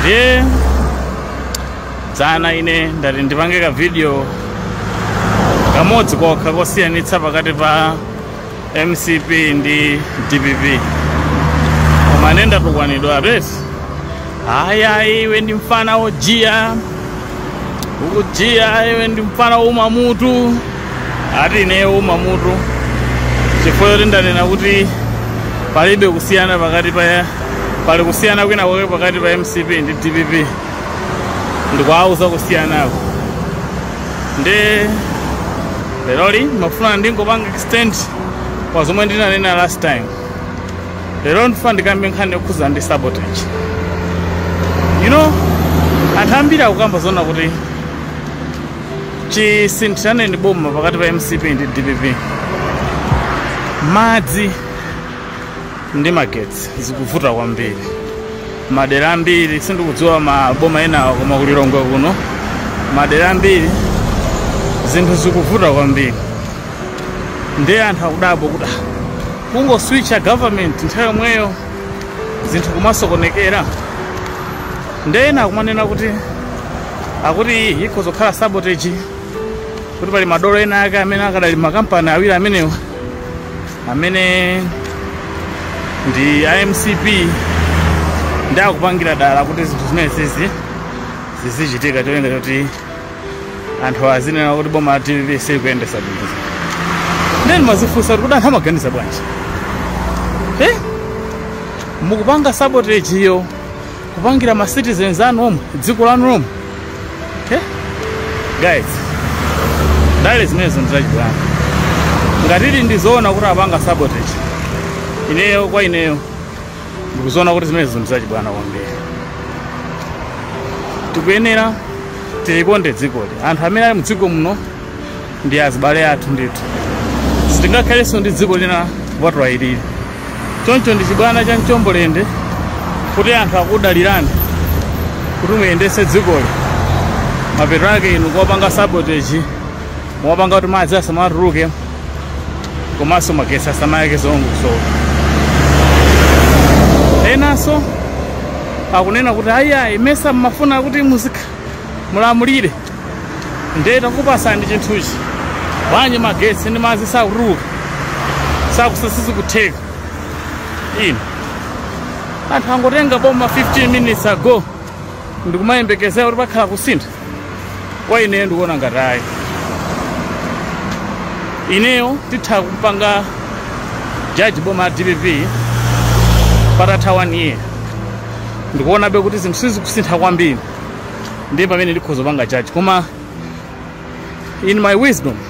ndiye dzana ine ndati ndipange ka video kamodzi kokha kosiyanitsa pakati pa mcp ndi dpp koma ine ndatukwanidwa ati ayayi iwe ndi mfana wojiya ukujiya iwe ndi mfana woumamutu ati ineyo woumamutu chifukwa choti ndanena kuti palibe kusiyana pakati pa pali kusiyana kwina kwake pakati pa mcp ndi dpp ndikuwauza kusiyanako nde leroli ndimafuna ndingopanga extend pa zomwe ndinanena last time lero ndifuna ndikambe nkhani yokhuza ndi sabotage you know anthu ambiri akukamba zona kuti chisinthiraneni boma pakati pa mcp ndi dpp madzi ndi magetsi zikuvuta kwambiri madera ambiri sindikudziwa maboma enawo koma ku lilongwe kuno madera ambiri zinthu zikuvuta kwambiri ndiye anthu akudabwa kuti "Ah, kungoswitcha government nthawi yomweyo zinthu kumasokonekera nde ena akumanena kuti akuti iyi ikhoza kukhala sabotage kuti pali madolo ena ake amene akadali mmakampani awiri amenewa amene ndi a mcp ndi akupangira dala kuti zinthu zimenezi zizichitika cholinga choti anthu azinena kuti boma la dpp silikuyendesa bwino nde ndimazifunsa kuti kuti anthu amaganiza bwanji Eh? mukupanga sabotage-yo kupangira ma citizens anu omwe dziko lanu lomwe Eh? guys ndale zimenezo ndizachibwana ngati zili ndizoona kuti apanga sabotage ineyo kwa ineyo ndikuziona kuti zimenezo ndi zachibwana kwambiri tikuyenera tilikonde dzikoli anthu amene ali mdziko muno ndi azibale athu ndithu sitingakhalenso ndi dziko lina kupatula ilili choncho ndi chibwana cha mchombolende kuti anthu akudalirani kuti muyendetse dzikoli mapeto ake inu kuwapanga sabotage muwapanga kuti madzi asamatuluke komanso magetsi asamayake zolongosoka enanso akunena kuti ayiayi mesa mmafuna kuti muzikhala mulamulire ndiye takupatsani chinthuchi bwanji magetsi ndi madzi sakutuluka sakusa sizikutheka inu anthu angotenga boma 15 minutes ago nkumayembekezera kuti pakhala kusintha kwa ineyo ndikuona ngati ayi ineyo nditha kupanga jaji boma la dpp patatha one year ndikuonabe kuti zinthu sizikusintha kwambiri ndiye pamene ndikhoza kupanga jaji koma in my wisdom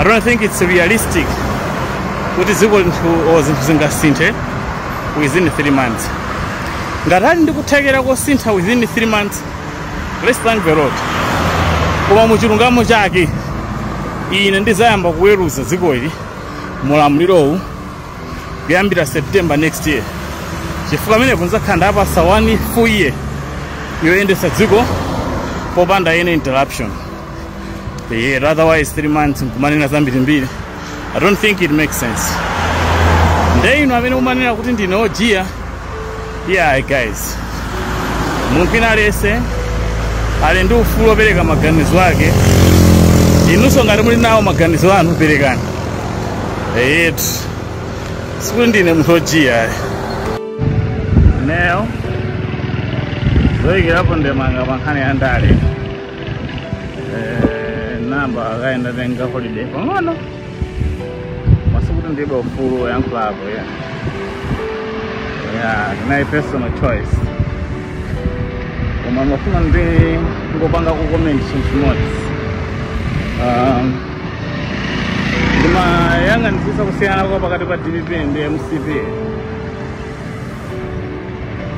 I don't think it's realistic kuti dziko zinthu or zinthu zingasinthe within 3 months ngati ali ndi kuthekera kosintha within 3 months let's thank the lord koma mu chilungamo chake ine ndidzayamba kuweruza dziko ili mulamulirowu kuyambira september next year chifukwa pamenepo ndidzakhala nditawapatsa one full year yoyendetsa dziko popanda any interruption yeah, otherwise three months nkumanena zambirimbiri i don't think it makes sense nde inu amene mumanena kuti ndine ojiya yeah guys munthu wina aliyense ali ndi ufulu opereka maganizo ake inunso ngati muli nawo maganizo anu perekani eyetu sikuti ndine munthu ojiya ineyo zoyikirapo ndemanga pa nkhani ya ndale Eh, ndayamba kaye ndatenga holiday pang'ono koma sikuti ndilibe ufulu woyankhulapo ya ya inayi personal choice koma ndimafuna ndingopangako comment chinthu chimodzi um, ndimayang'anitsisa kusiyana kwa pakati pa dpp ndi mcp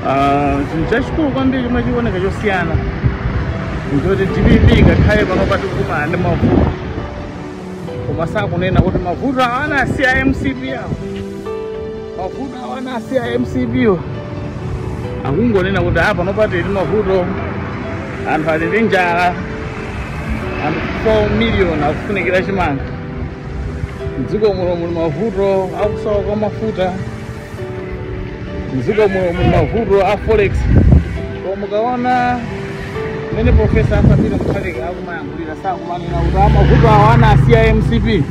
Ah, chinthu chachikulu kwambiri chomwe chikuoneka chosiyana nchoti dpp ngakhale pano pa tikukumana ndi mavuto koma sakunena kuti mavuto awo anasiya a mcp awo mavuto awo anasiya a mcp wo akungonena kuti a pano pa tili ndi mavuto anthu ali ndi njala anthu 4 miliyoni akufunikira chimanga mdziko muno muli mavuto akusowa kwa mafuta mdziko muno muli mavuto a forex koma mukaona mmene profesa Arthur Peter Mutharika akumayankhulira sakumanena kuti a mavuto awa anasiya a mcp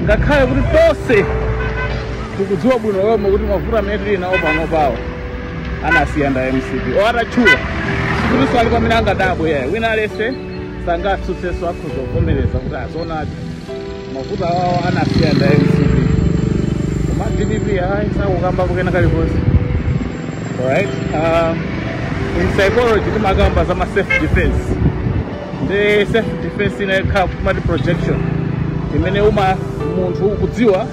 ngakhale kuti tonse tikudziwa bwino lomwe kuti mavuto amene tili nawo panopawa anasiya ndi a mcp or atatchula sikutinso ali pamene angadabwe yayi wina aliyense sangatsutsenso akhoza kuvomereza kuti a zoonadi mavuto awawo anasiya ndi a mcp koma dpp ayi sakukambako kena kalikonse alright um, in psychology timakamba za ma self defense ndi self defense inayake timati projection imene umati munthu ukudziwa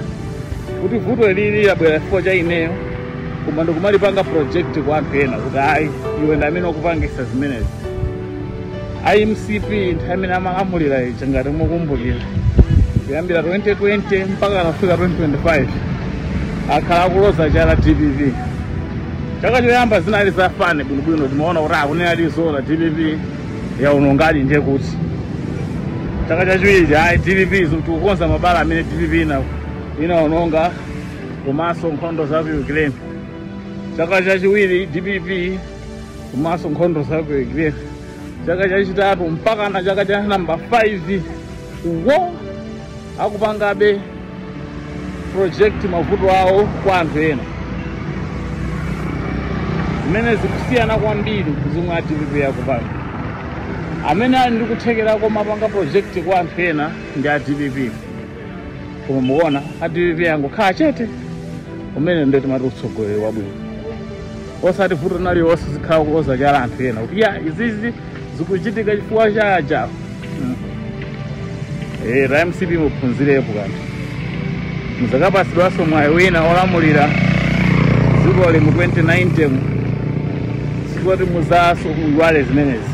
kuti vuto ili labwera chifukwa cha ineyo koma ndikumalipanga project kwa anthu ena kuti ayi iwe ndi amene wakupangisa zimenezi a mcp nthawi imene amalamulira ija ngati mukumbukira kuyambira 2020 mpaka anafika 2025 akhala akuloza chala dpp chaka choyamba zinali za fine bwinobwino timaona kuti akunenadi zoona dpp yaonongadi ndiye kuti chaka chachiwiri ayi dpp tikukonza mabala amene dpp inaononga komanso nkhondo za ku ukraine chaka chachiwiri dpp komanso nkhondo za ku Ukraine chaka chachitatu mpaka na chaka cha namba 5 iwo akupangabe project mavuto awo kwa anthu ena zimene zikusiyana kwambiri ndi zomwe a dpp akupanga amene ali ndi kuthekera komapanga project kwa anthu ena ndi a dpp koma mukuona a dpp angokhala chete umene ndiye timati utsogoleri wabwino osati vuto lililonse uzikhala kuloza chala anthu ena kuti ya izizi zikuchitika chifukwa cha ajawo Mm. Eh, a mcp muphunzirepo kanthu muzakapasidwanso mwayi wina olamulira dziko lino mu 2090 sikuti muzaziyiwale zimenezi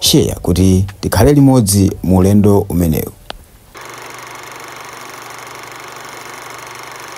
Share kuti tikhale limodzi mu ulendo umenewu.